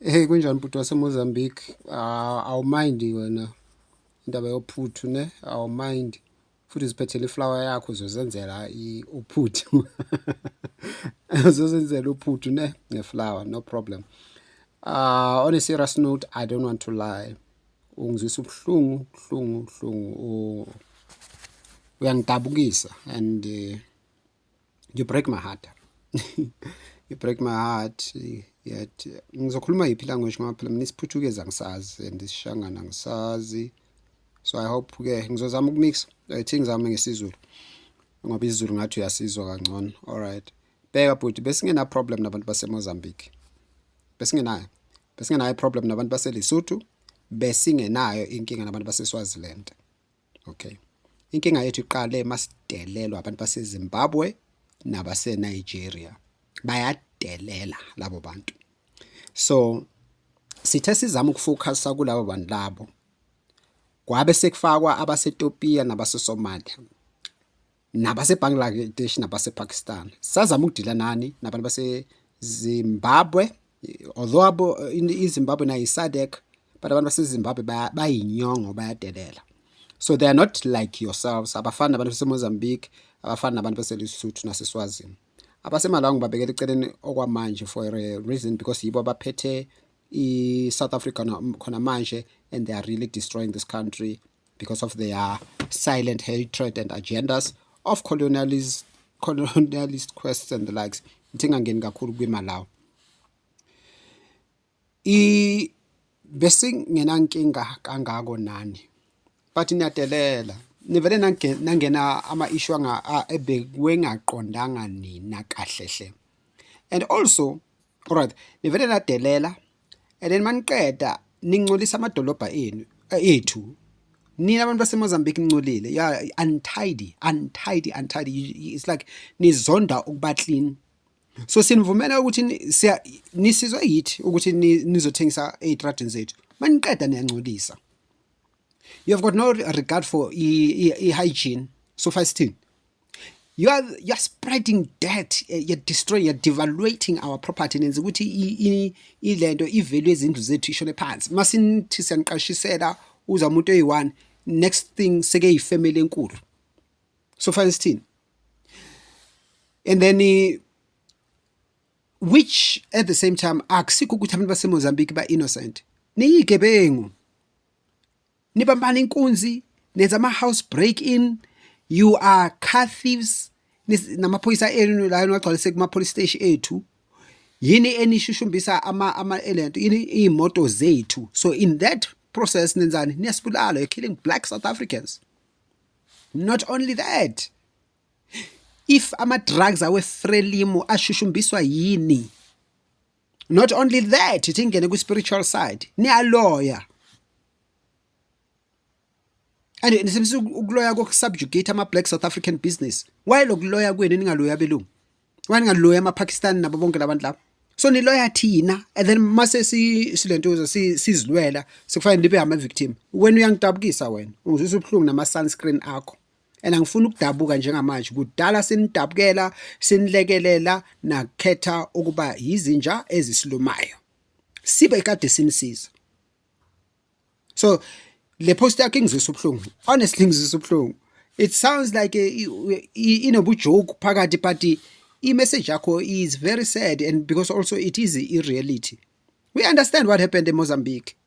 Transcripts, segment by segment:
Hey kunjani bhuti waseMozambique? Ah, awumind wena indaba yophuthu ne? Awumind futhi uziphethele iflower yakho uzozenzela uphuthu. Uzozenzela uphuthu ne ngeflower no problem. Uh, on a serious note, I don't want to lie. Ungizwisa ubuhlungu, ubuhlungu, ubuhlungu. Uyangidabukisa and uh, you break my heart you break my heart yet ngizokhuluma yiphi language ngoba phela mina isiphutshukezi angisazi and isishangana angisazi so i hope ke ngizozama ukumuxa i think zame ngesizulu ngoba izulu ngathi uyasizwa kangcono alright bheka bhuti besingena problem nabantu basemozambique besingenayo besingenayo problem nabantu baselesotho besingenayo inkinga nabantu baseswaziland okay inkinga yethu iqale masidelelwa abantu baseZimbabwe nabaseNigeria bayadelela labo bantu so sithe sizama ukufocus kulabo bantu labo kwabe sekufakwa abaseTopiya nabaseSomalia nabaseBangladesh nabasePakistan sazama ukudila nani nabantu baseZimbabwe although abo iZimbabwe nayo iSADC but abantu baseZimbabwe bayinyongo bayadelela so they are not like yourselves abafani nabantu baseMozambique abafani nabantu baseLesotho naseSwazini abasemalawi ngibabekela eceleni okwamanje for a reason because yibo abaphethe i-south africa khona manje and they are really destroying this country because of their silent hatred and agendas of colonialist, colonialist quests and the likes ukuthi ingangeni kakhulu kwimalawi i besingenankinga kangako nani but niyadelela nivele nangena ama-ishu ebekwe ngaqondanga nina kahle hle and also alright nivele nadelela and then maniqeda ningcolisa amadolobha enu eh, ethu nina abantu baseMozambique nincolile you are untidy untidy untidy it's like nizonda ukuba clean so sinivumela ukuthi nisizwe yithi ukuthi nizothengisa ezitradini zethu maniqeda niyancolisa you have got no regard for i-hygiene so fasting you are you are spreading debt eh, you're destroying you're devaluating our property nenza ukuthi ilento ivalue ezindlu zethu ishone phansi masinithi siyaniqashisela uza umuntu oyi1 next thing seke yifamily enkulu so fanele sithini and then eh, which at the same time akusikho ukuthi abantu baseMozambique ba innocent niyigebengu nibambana inkunzi nenza ama house break in you are car thieves namaphoyisa enu la niwagcwalise kuma police station ethu yini enishushumbisa ama ama elento yini imoto zethu so in that process nenzani niyasibulala you're killing black south africans not only that if ama drugs awe frelimo ashushumbiswa yini not only that ithi ingene kwi spiritual side niyaloya and nisemisa ukuloya koku subjugate ama black south african business why lokuloya kwenu ningaloya belungu why ningaloya ama pakistan nabo bonke labantu labo so niloya thina and then mase si silentuza sizilwela sikufanele nibe ama victim wena uyangidabukisa wena ungizwisa ubuhlungu nama sunscreen akho and angifuni ukudabuka njengamanje kudala sinidabukela sinilekelela nakhetha ukuba yizinja ezisilumayo sibe kade simsiza so le post yakhe ingizwisa ubuhlungu honestly ngizwisa ubuhlungu it sounds like inobujoke phakathi but i-message yakho is very sad and because also it is i-reality we understand what happened emozambique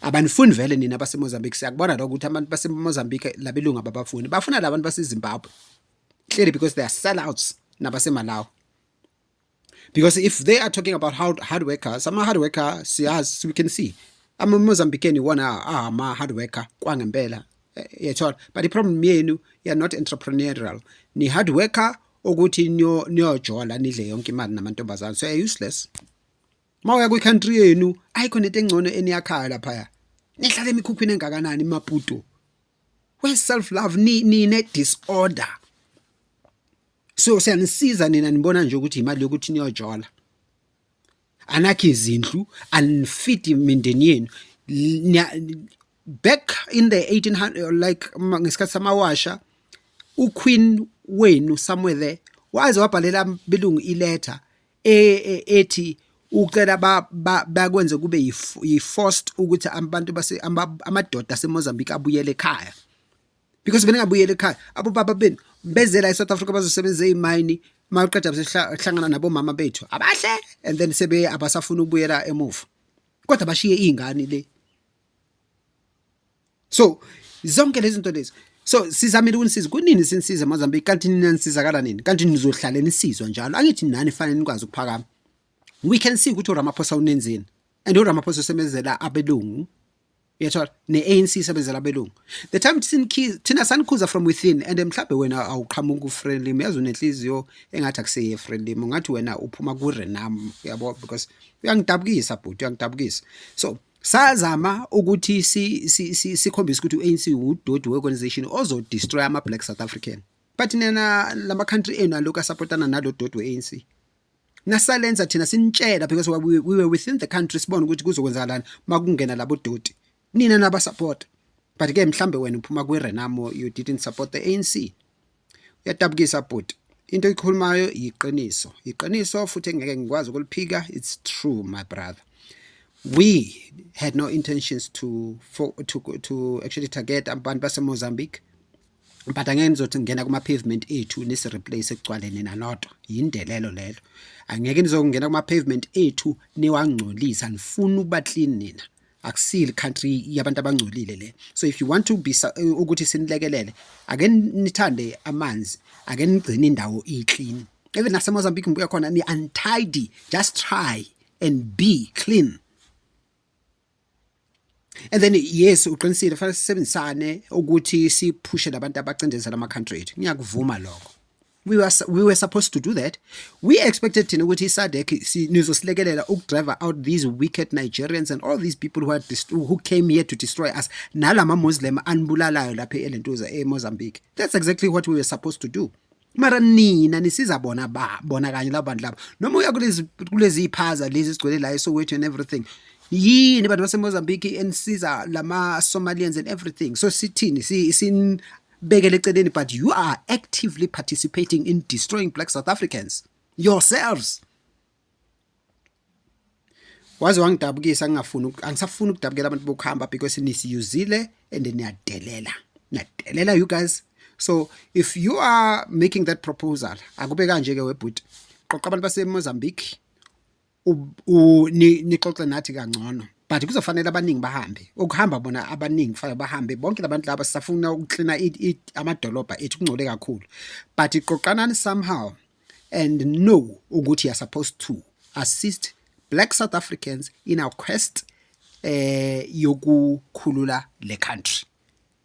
Abanifuni vele nina abaseMozambique siyakubona lokho ukuthi abantu baseMozambique labelungu ababafuni bafuna labantu baseZimbabwe clearly because they are sellouts nabaseMalawi because if they are talking about hard, hard workers ama hard worker siyazi we can see ama Mozambican iwona ama hard worker kwangempela eh, yethola but the problem yenu you are not entrepreneurial ni hard worker ukuthi niyojola nidle yonke imali namantombazane so useless Uma uya kwi-country yenu ayikho nento engcono eniyakhayo laphaya. Nihlala emikhukhwini engakanani Maputo? Where self love ni nine disorder. So siyanisiza nina nibona nje ukuthi imali yokuthi niyojola. Anakhe izindlu, anifiti imindeni yenu. Back in the 1800 like ngesikhathi samawasha uQueen wenu somewhere there waze wabhalela belungu iletter e, e, ethi ucela bakwenze kube yi-forced ukuthi abantu base amadoda aseMozambique abuyele ekhaya because beningabuyela ekhaya abobaba benu bezela eSouth Africa bazosebenza ezimayini maqeda behlangana nabomama bethu abahle and then sebe abasafuna ukubuyela emuva kodwa bashiye izingane le so zonke lezi zinto lezi so sizamile ukunisiza kunini sinisiza Mozambique kanti nina nisizakala nini kanti nizohlale nisizwa njalo angithi nani fanele nikwazi ukuphakama we can see ukuthi uRamaphosa unenzeni and uRamaphosa usemezela abelungu uyathola ne-anc isebenzela abelungu the time thina sanikhuza from within and mhlawumbe wena awuqhamuki kufriendlim yazi unenhliziyo engathi akuseye friendlim ungathi wena uphuma kurenam yabo because uyangidabukisa bhuti uyangidabukisa so Sazama ukuthi si sikhombise ukuthi uANC udodi weorganization ozo destroy ama black South African. But nina lama country enu aloku asupportana nalo dodi weANC. Nasalenza thina sinitshela because we, we were within the country sibona ukuthi kuzokwenzakalani makungena labo dodi. Nina naba support. But ke mhlambe wena uphuma kwi Renamo you didn't support the ANC. uyadabukisa bhuti into oyikhulumayo yiqiniso yiqiniso futhi engeke ngikwazi ukuliphika it's true my brother we had no intentions to for, to to actually target abantu base Mozambique but angeke nizothi ngena kuma pavement ethu nisi replace egcwale nina nodwa yindelelo lelo angeke nizongena kuma pavement ethu niwangcolisa nifuna uba clean nina akusile country yabantu abangcolile le so if you want to be eh, ukuthi sinilekelele ake nithande amanzi ake nigcine indawo iclean even nasemozambique ngibuya khona ni untidy just try and be clean and then yes uqinisile fanele sisebenzisane ukuthi siphushe labantu abacindezela ama country ethu ngiyakuvuma lokho we were, we were supposed to do that we expected thina ukuthi isadec nizosilekelela ukudriver out these wicked nigerians and all these people who, are who came here to destroy us nala mamuslim anibulalayo lapha elentuza emozambique that's exactly what we were supposed to do mara nina nisiza bona ba bona kanye labo bantu labo noma uya kulezi kulezi iphaza lezi sigcwele la esowethu and everything yini bantu basemozambique enisiza lama somalians and everything so sithini si, si bekele eceleni but you are actively participating in destroying black south africans yourselves waze wangidabukisa ngingafuni angisafuni ukudabukela abantu bokuhamba because nisiyuzile and niyadelela niyadelela you guys so if you are making that proposal akube kanje ke webhuti qoqa abantu basemozambique nixoxe nathi kangcono but kuzofanele abaningi bahambe ukuhamba bona abaningi kufanele bahambe bonke labantu laba sisafuna ukuklina amadolobha ethu kungcole kakhulu but iqoqanani somehow and know ukuthi you're supposed to assist black south africans in our quest eh yokukhulula le country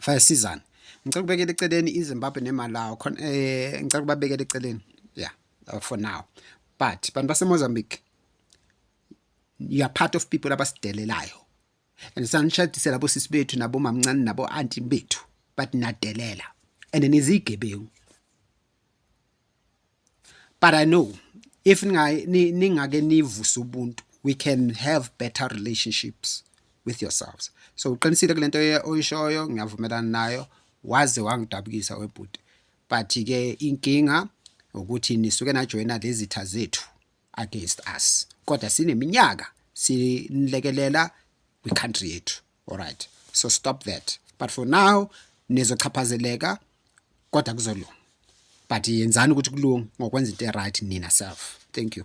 Fire sizane. Ngicela ukubekela eceleni iZimbabwe neMalawi khona eh ngicela ukubabekela eceleni. Yeah, uh, for now. But bantu baseMozambique you are part of people abasidelelayo. And sanishadisela bo sisi bethu nabo mamncane nabo auntie bethu but nadelela. And nizigebengu. but i know if ningake nivuse ubuntu we can have better relationships with yourselves so uqinisile kule nto oyishoyo ngiyavumelana nayo waze wangidabukisa webhuti but-ke inkinga ukuthi nisuke najoyina lezitha zethu against us kodwa sineminyaka sinilekelela kwi-country yethu alright so stop that but for now nizochaphazeleka kodwa kuzolunga but yenzani ukuthi kulunge ngokwenza into right nina self thank you